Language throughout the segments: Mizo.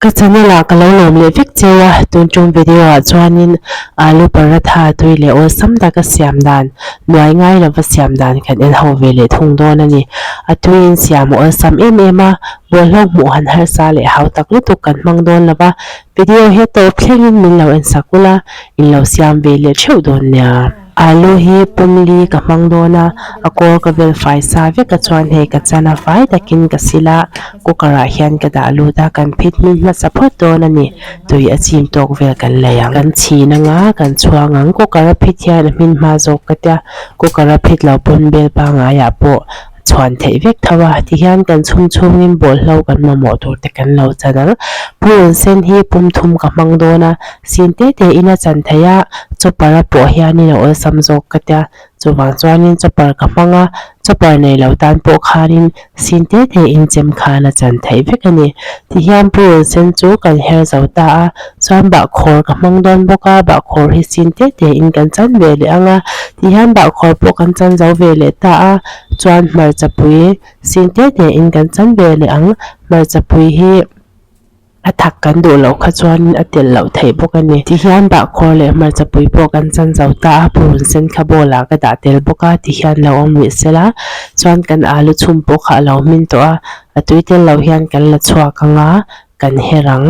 Ka channel ah ka lo lawm leh vek che a, tun chung video ah chuanin alu paratha tui leh awlsam taka siam dan nuai ngai lova siam dan kan en ho ve leh thung dawn a ni. A tuiin siam awlsam em em a, bawlhhlawk hmuh han harsa leh hautak lutuk kan hmang dawn lova. Video hi tawp thlengin min lo en sak ula, in lo siam ve leh theuh dawn nia. Alu hi pum li ka hmang dawn a, a kawr ka vel fai sa vek a chuan hei ka chan a fai takin ka sil a, cooker ah hian ka dah lut a, kan phit hming hmasa phawt dawn a ni, tui a chim tawk vel kan lei ang. Kan chhin ang a, kan chhuang ang, cooker a phit hian a hmin hma zawk ka tia, cooker a phit lo pawn vel pangngai ah pawh, chhuan theih vek tho a ti hian kan chhung chhung in bawlhhlawh kan mamawh tur te kan lo chan ang pu un sen hi pumthum ka hmang dawn a sin te te in a chan thei a chopper a pawh hian in a awlsam zawk ka tia chuvang chuan in chopper ka hmang a chopper nei lo tan pawh khan in sin te te in chem khan a chan theih vek a ni ti hian pu un sen chu kan her zo ta a. Chuan bahkhawr ka hmang dawn bawk a, bahkhawr hi sin teh teh in kan chan ve leh ang a, tih hian bahkhawr pawh kan chan zo ve leh ta a, chuan hmarcha pui sin teh teh in kan chan ve leh ang, hmarcha pui hi a thak kan duh loh kha chuan in a tel loh theih bawk a ni, tih hian bahkhawr leh hmarcha pui pawh kan chan zo ta a, purun sen kha bowl ah ka dah tel bawk a, tih hian lo awm leh sela, chuan kan alu chhum pawh kha a lo hmin tawh a, a tui tel lo hian kan la chhuak ang a, kan her ang.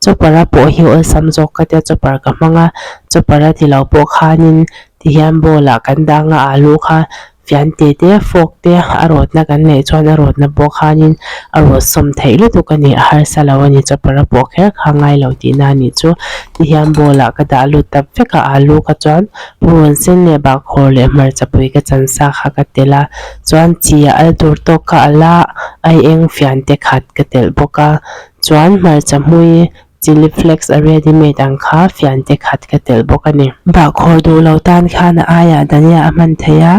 Chopper a pawh hi awlsam zawk ka tia chopper ka hmang a, chopper a ti lo pawh khanin tihian bowl ah kan dang a alu kha fian te te fawk te a rawtna kan neih chuan a rawtna pawh khanin a rawt sawm theih lutuk a ni a harsa lo a ni chopper a pawh kher kha a ngai lo tihna a nih chu tihian bowl ah ka dah lut tak vek a alu kha chuan Rual sen leh bahkhawr leh hmarcha pui ka chansa kha ka telh a, chuan chi a al tur tawk ka alh a, ai eng fian te khat ka telh bawk a, chuan hmarcha hmui chilli flakes a ready made ang kha fian te khat ka telh bawk a ni. Bahkhawr duh lo tan khan a aia Dania a hman thei a,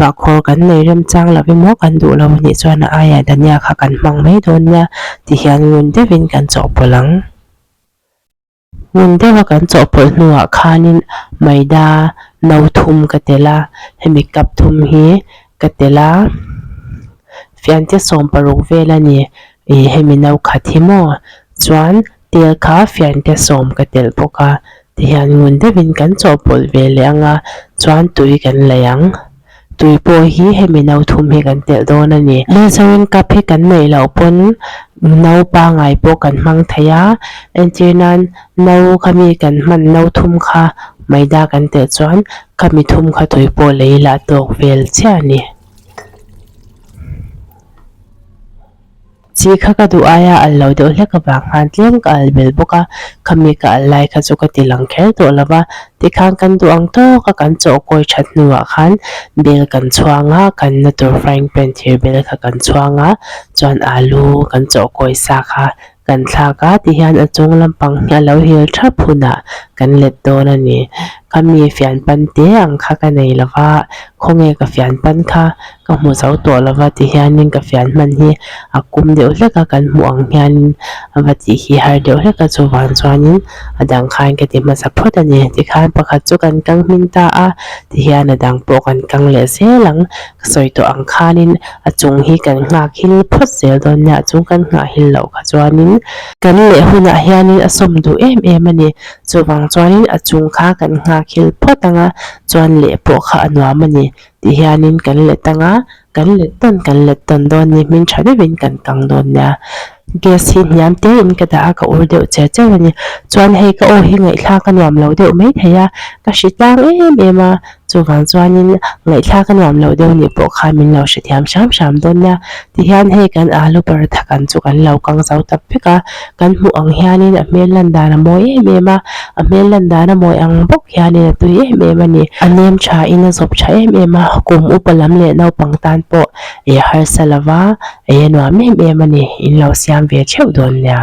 bahkhawr kan nei rem chang lo em aw kan duh lo a nih chuan a aia Dania kha kan hmang mai dawn nia ti hian ngun deuh in kan chawhpawlh ang. Hmun deuha kan chawhpawlh hnuah khanin Maida no thum ka tel a, hemi cup thum hi ka tel a, fianchhe sawm paruk vel a ni i hemi no khat hi maw chuan tel kha fianchhe sawm ka tel bawk a, tihian ngun deuhin kan chawhpawlh ve leh ang a, chuan tui kan laih ang. tui pawh hi hemi no thum hi kan telh dawn a ni. Lehzawin cup hi kan neih loh pawn no pangai pawh kan hmang thei a, entir nan no kha mi kan hman no thum kha maida kan telh chuan kha mi thum kha tui pawh lei lah tawk vel chiah a ni. Chi kha ka duh aia al lo deuh hlek avang khan tlem ka al bel bawk a, khami ka al lai kha chu ka ti lang kher tawh lo va, tikhan kan duh ang tawk a kan chaw kawi that hnuah khan bel kan chhuang a, kan na tur frying pan thir bel kha kan chhuang a, chuan alu kan chaw kawi sa kha kan thlak a, ti hian a chung lampang hi a lo hil thap hunah kan let dawn a ni, khami fian pan te ang kha ka nei lo va, khawnge ka fian pan kha. ka hmu zo tawh lo va ti hian in ka fian hman hi a kum deuh hlek a, kan hmuh ang hian in a va tih hi har deuh hlek a, chuvang chuan in a dang khan ka ti hmasa phawt a ni. Tikhan pakhat chu kan kang hming ta a, ti hian a dang pawh kan kang leh zel ang. Ka sawi tawh ang khan in a chung hi kan nghakhil phawt zel dawn nia, chung kan nghahil loh kha chuan in, kan leh hunah hian in a sawm duh em em a ni, chuvang chuan in a chung kha kan nghakil phawt ang a, chuan leh pawh kha a nuam a ni. tih hianin kan let tang a, kan let dawn kan let dawn dawn ni hming tha deuh in kan kang dawn nia, gas hi hniam te in ka dah a ka ur deuh che cheu a ni, chuan hei ka aw hi ngaihthlak a nuam lo deuh mai thei a, ka hri tlang em em a, chuvang chuanin ngaihthlak a nuam lo deuh nih pawh kha min lo hre thiam hram hram dawn nia, tihian hei kan alu paratha kan chu kan lo kang zau tak vek a, Kan hmuh ang hianin a hmel lan dan a mawi em em a, a hmel lan dan a mawi ang bawk hianin a tui em em a ni. A nem thain a zawp tha em em a, kum upa lam leh naupang tan pawh ih harsa lova ei a nuam em em a ni, in lo siam ve theuh dawn nia.